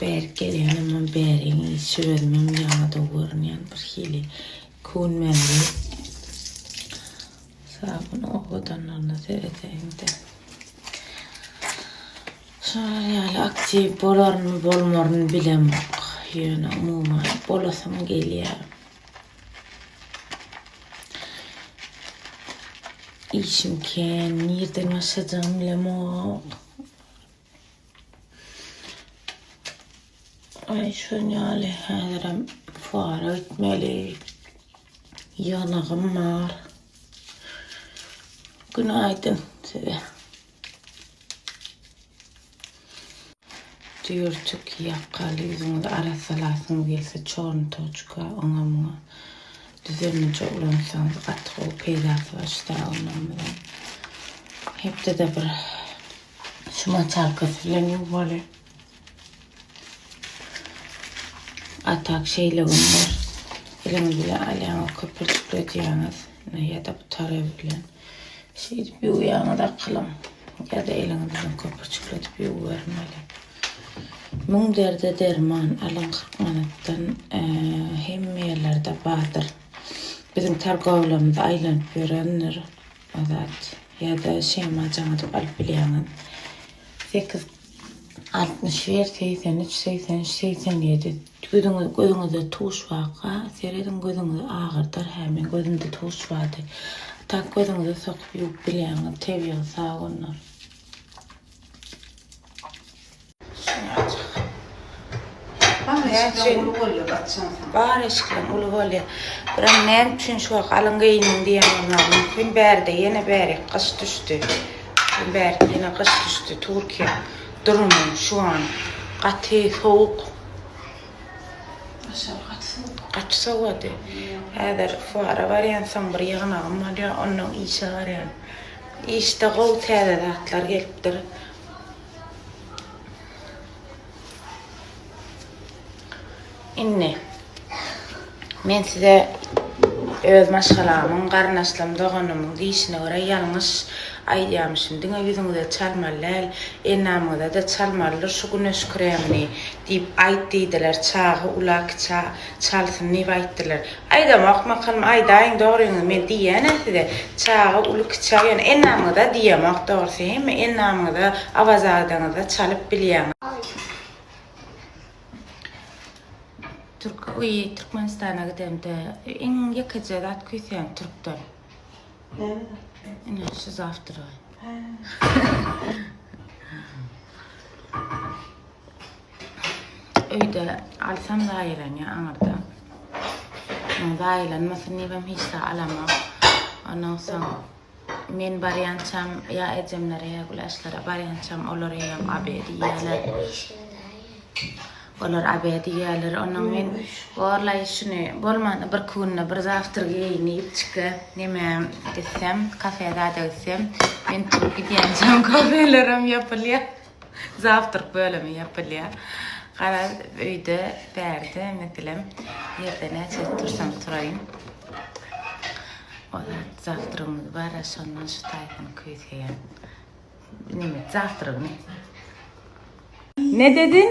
Bärik gelýänimem bäriň şiwerimem ýadaw görünýän birhili kun bäri. Sabun owadanlygyna seredeýin-de. Şolar ýaly aktiw bolaryny bolmaryny bilemok. Ýöne umuman bolasym gelýär. Işim kän, nirden başlajagym bilemok. Ay şun ýaly häzirem fuara gitmeli. Ýygnagym bar. Günaýdyn size. Düýrçik ýakaly ýüzüňizi arassalasyň gelse çornutoçka oňa muňa düzenlije ulansaňyz gaty gowy peýdasy bar şidawnamyza. Hepdede bir Şu moçalkasy bilen ýuwmaly. A tak şeýle günler eliňiz bilen alýaňyz, köpürjikledýäňiz ýa-da bu tarap bilen. Şeýdip ýuwýaňyz akylam. Ýa-da eliňiz bilen köpürjikledip ýuwbermeli. Müň derde derman, alyň 40 manatdan hemme ýerlerde bardyr. Biziň targowlamyz aýlanyp ýörendir. Azat ýa-da Şema jaň edip alyp bilýäňiz. Sekiz altmyş bir segsen üç segsen üç segsen ýedi Gözüňiz gözüňizde tuş waka serediň gözüňizi agyrdar hä men gözümde tuş bardy. Tak gözüňize sokup ýuwup bilýäňiz tebigy sabunlar. Bar eşikleň uly bolýar. Biram näme üçin şu wagt galyň geýindiň diýen bolmaly. Mümkin bärde ýene bäri gyş düşdi. Mümkin bärde ýene gyş düşdi. Türkiýe durumy şu an gaty sowuk. Aşak gaty sowuk. Gaty sowady. Häzir fuara barýan soň bir ýygnagym bolýar, ondan işe barýan. Işde gowy täze zatlar gelipdir. Indi men size öz maşgalamyň, garyndaşlarym, doganlarymyň diýşine görä ýalňyş aýdýarmyşym. Diňe ýüzüňize çalmaly däl, endamyňyza-da çalmalydyr şu güneş kremini diýip aýt diýdiler. Çagy ula-kiçä çalsyn diýip aýtdylar. Aýdamak makalym aýdaýyň dogryňyzy men diýýänä size çaga uly kiçä ýöne elnamyňyza diýemok dogrysy hemme elnamyňyza awazadaňyzda çalyp bilýäňiz. Türk öýi Türkmenistana gidemde iň ýekeje zat küýseýän türkden. Ine şu zawtrgy. Öýde alsam zaýalanýar aňyrda. Muň zaýalanmasyn diýibem hiç zat alamok. Ondan soň men barýançam ýa ejemlere ýa güläşlere barýançam olar eýýäm abe diýýärler. Olar abe diýýärler. Ondan men gorlaý şuny bolmanda bir künde bir zawtr geýin diýip çyka neme gitsem, kafe zada gitsem, men turup gidýänçäm kafelerem ýapylýar. Zawtrk bölümi ýapylýar. Garaz, öýde, bärde, meselem, ýerde näçe tursam turaýyn. O zat zawtrygymyz bar-a, şondan şu taýpyny küýseýän. Neme, zawtrygyny. Ne dediň?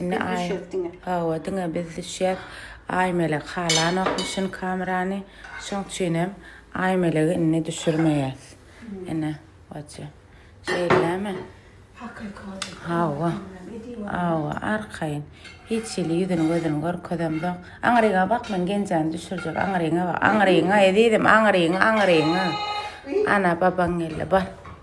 Indi aý. Hawa, diňe biz düşýäs. Aýmelek halanokmuşyn kamerany. Şoň üçinem Aýmelegi indi düşürmeýäs. Ene, baçja. Şeýdämi? Hawa. Hawa, arkaýyn. Hiç hili ýüzüni gözüni görkezemzok. Aňryňa bak, men Genjany düşürjek. Aňryňa bak. Aňryňa, ezizim, aňryňa, aňryňa. Ana, babaň geldi. Bar.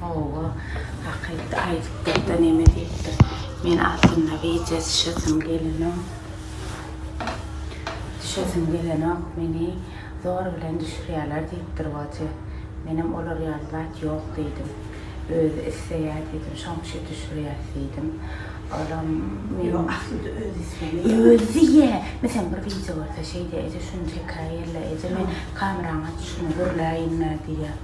Hawa, hakyt aýdypdyr-da, neme diýipdir. Men aslynda wideo düşesim gelenok. Düşesim gelenok, meni zor bilen düşürýärler diýipdir Watje. Menem olar ýaly zat ýok diýdim. Özi isleýär diýdim, şoň üçin düşürýäs diýdim. Olam meni Ýok, aslynda özi islemeýär. Özi diýýär. Meselem, bir wideo görse şeýdýär, Eje, şuny çekäýerle, eje, men kameranyň açyşyny gürläýinle diýýär.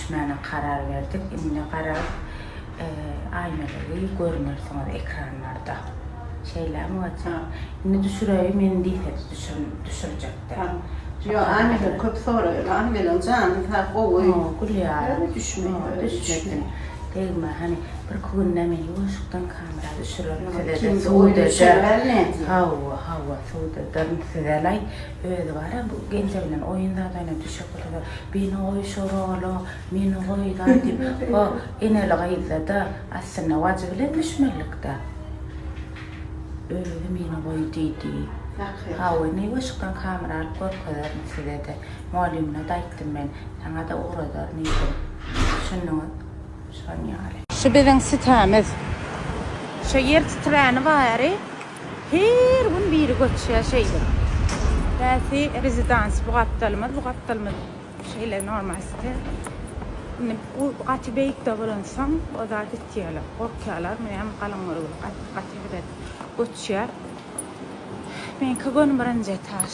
Düşmäne karar berdik. Indi garaz, aýnalary görmersiňiz ekranlarda. Şeýlämi Waçan? Indi düşüreýin men diýsede düşürjekde. Ýo, aýnalary köp soraýar. Aly gelen janyň sag, gowy. Gowy gülýär. Düşmeýin. Degme, hany birki günde men ýuwaşykdan kamera düşürerin size-de suwda. Hawa, hawa, suwda durun size-laý. Özi bara bu Genje bilen oýun zadanyýa düşüp gitse-de, Bini goý şo rola, mini goý daý diýip, ho, eneli gyzda-da, aslynda wajy bilen düşmelilik-dä. Özi mini goý diýdi. Hawa, niweşikden hamyr alyp görkezerin size-de. Mugallymyna-da aýtdym men. Saňa-da ugradaryn diýdim. Düşündiňiz? Şonýaly. Şu biziň sütämiz. Şo ýer titräni bary. Her gün biri göçýä şeýdip. Bäsi rezidans bu gapdalymyz bu gapdalymyz şeýle normal site. Indi bu gaty beýikde bolansoň oda gitýäler gorkýalar munem galyň görgüli gaty gaty erbet göçýä. Meňki gönümbirinji etaž.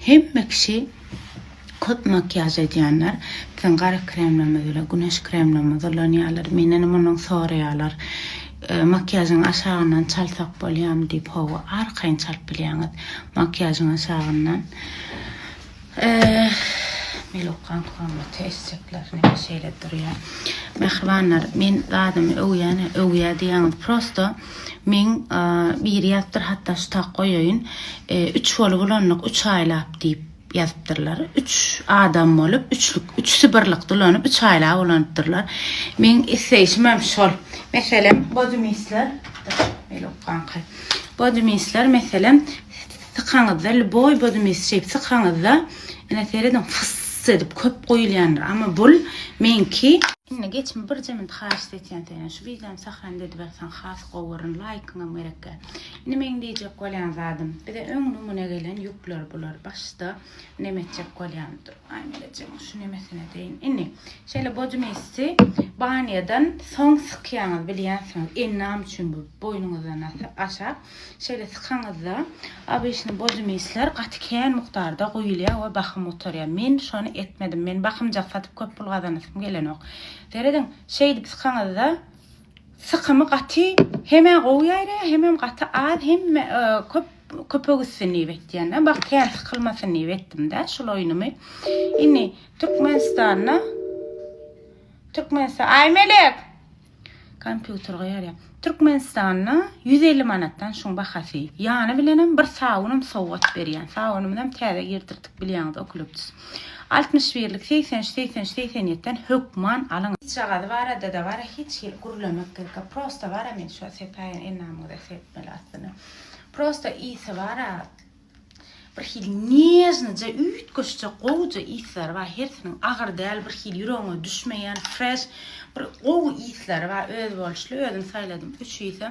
Hemme kişi köp makiýaž edýänler, biziň gara kremlerimiz bilen güneş kremlerimiz ulanýarlar. Mendenem ondan soraýarlar, Makiýažyň aşagyndan çalsak bolýarmy diýip, hawa, arkaýyn çalyp bilýäňiz. Makiýažyň aşagyndan Melow gan hormaty eşekler neme şeýle durýar. Mähribanlar, men zadymy öwýän, öwýär diýýäňiz, prosto Meň biri ýazypdyr hatdaştak goýaýyn üç bolup ulandyk üç aýlap diýip ýazypdyrlar üç adam bolup üçlük üç sibirlikde ulanyp üç aýlap ulanypdyrlar meň isleýşim hem şol meselem bodymisler meýl okanka bodymisler meselem Sykaňyzda lboý bozumi şeýp sykaňyzda ine serediň fyss edip köp goýulýandyr amma bul meňki. Indi geçme birje minut haýşt etýän senden şu wideony sahranda edip atsaň has gowy görün laýkyňam gerekkä. Indi meň diýjek bolýan zadym bize öň numune gelen ýükler bular başda neme etjek bolýan dur aý melejegiň şu nemesine deýin indi şeýle bozumissi banýadan soň sykýaňyz bilýänsiňiz indi name üçin bu boýnuňyzdan aşak Şeýle sykaňyzda obyçny bozumyslar gaty kän mukdarda guýulýar we bahym gutarýar. Men şony etmedim. Men bahymjak satyp köp pul gazanasym gelenok. Serediň, şeýdip sykaňyzda sykymy gaty hemä gowy ýaýraýar, hemem gaty az, hemme e, köp köpek üstün diýip etýän. Bak kän sykylmasyn diýip etdim-de şul oýnumy. Indi Türkmenistanda Türkmenistan Aýmelek Kompýuter goýarýa. Türkmenistanda ýüz elli manatdan şuň bahasy. Ýany bilenem bir sabunam sowgat berýän. Sabunymyzam täze girdirdik bilýäňiz okliptus. Altmyş birlik segsen üç segsen üç segsen ýetiden hökman alyň. Çyçagazy barada-da bara hiç hili gürlemek gerek-a. Prosta bara men şo sepäýen endamyňyza serpmeli aslynda. Prosta ysy bara. Bir hili nežnyja, üýtgeşje, gowuja yslar bar. Hersiniň agyr däl, bir hili ýüregiňe düşmeýän, fresh, bir gowy yslar bar. Özboluşly özüm saýladym üç ýsa.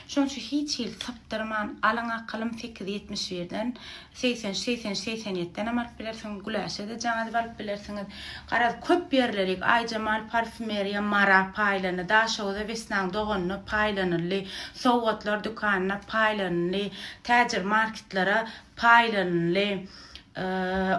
Şonuň üçin hiç hili sypdyrman, alyň akylym sekiz ýetmiş birden, segsen üç, segsen üç, segsen ýetiden hem alyp bilersiňiz, Güläşe de jaň edip alyp bilersiňiz. Garaz, köp ýerlerik, Aýjemal parfýumeriýa, Mara paýlandy, Daşoguza Wesnaň doganyna paýlanyldy, Sowgatlar dükanynda paýlanyldy, täjir marketlere paýlanyldy.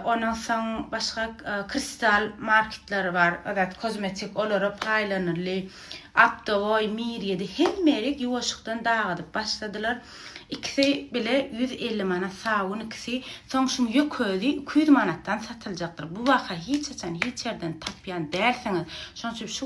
Ondan soň başga Kristal marketleri bar, Azat kozmetik olara paýlanyldy. Optowoý, Mir ýedi hemme ýeri ýuwaşykdan dagadyp başladylar. Ikisi bile ýüz elli manat sabun ikisi. Soň şum ýük özi iki ýüz manatdan satyljakdyr. Bu baha hiç haçan hiç ýerden tapýan dälsiňiz. Şonuň üçin şu.